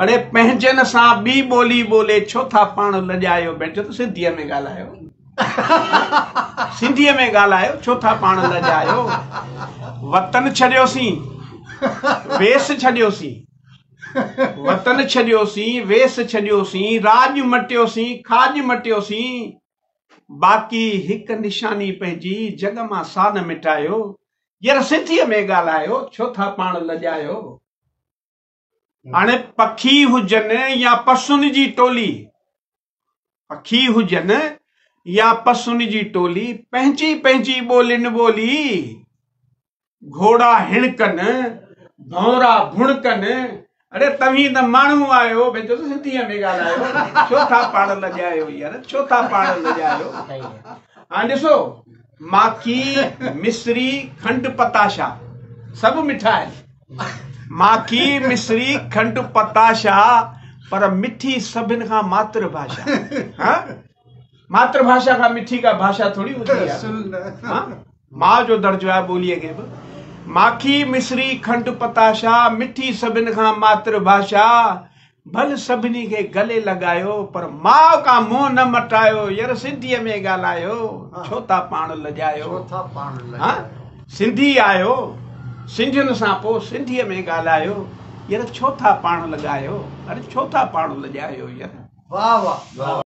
اڙي پنهنجن سان ٻي ٻولي ٻولي ڇو ٿا پاڻ لڄايو بينچو ته سنڌيء ۾ ڳالهايو سنڌيء ۾ ڳالهايو ڇو ٿا پاڻ لڄايو وطن ڇڏيوسين ويس ڇڏيوسين وطن ڇڏيوسين ويس ڇڏيوسين راڄ مٽيوسين کاڄ مٽيوسين باقي هڪ نشاني پنهنجي جڳ مان سا نه مٽايو ير سنڌيء ۾ ڳالهايو ڇو ٿا پاڻ لڄايو هاڻ پکي هجن يا پسن جي ٽولي، پکي هجن يا پسن جي ٽولي، پنهنجي پنهنجي ٻولين ٻولي، گهوڙا هڻڪن، ڀونرا ڀڻڪن، اڙي توهين ته ماڻهو آهيو، ڀيچو ته سنڌيء ۾ ڳالهايو، ڇو ٿا پاڻ لڄايو يار، ڇو ٿا پاڻ لڄايو، هاڻ ڏسو ماکي، مصري، کنڊ، پتاشا سڀ مٺا آهن. ماکي، مصري، کنڊ، پتاشا پر مٺي سڀن کان ماتر ڀاشا. ها؟ ماتر ڀاشا کان مٺي ڪا ڀاشا ٿوري هوندي آهي. ماء جو درجو آهي ٻوليء کي به. ماکي، مصري، کنڊ، پتاشا مٺي سڀن کان ماتر ڀاشا. ڀل سڀني کي گلي لڳايو، پر ماء کان منهن نه مٽايو، ير سنڌيء ۾ ڳالهايو، ڇو ٿا پاڻ لڄايو، هان سنڌي آهيو، سنڌين سان پوء سنڌيء ۾ ڳالهايو، ير ڇو ٿا پاڻ لڳايو، اري ڇو ٿا پاڻ لڄايو، ير.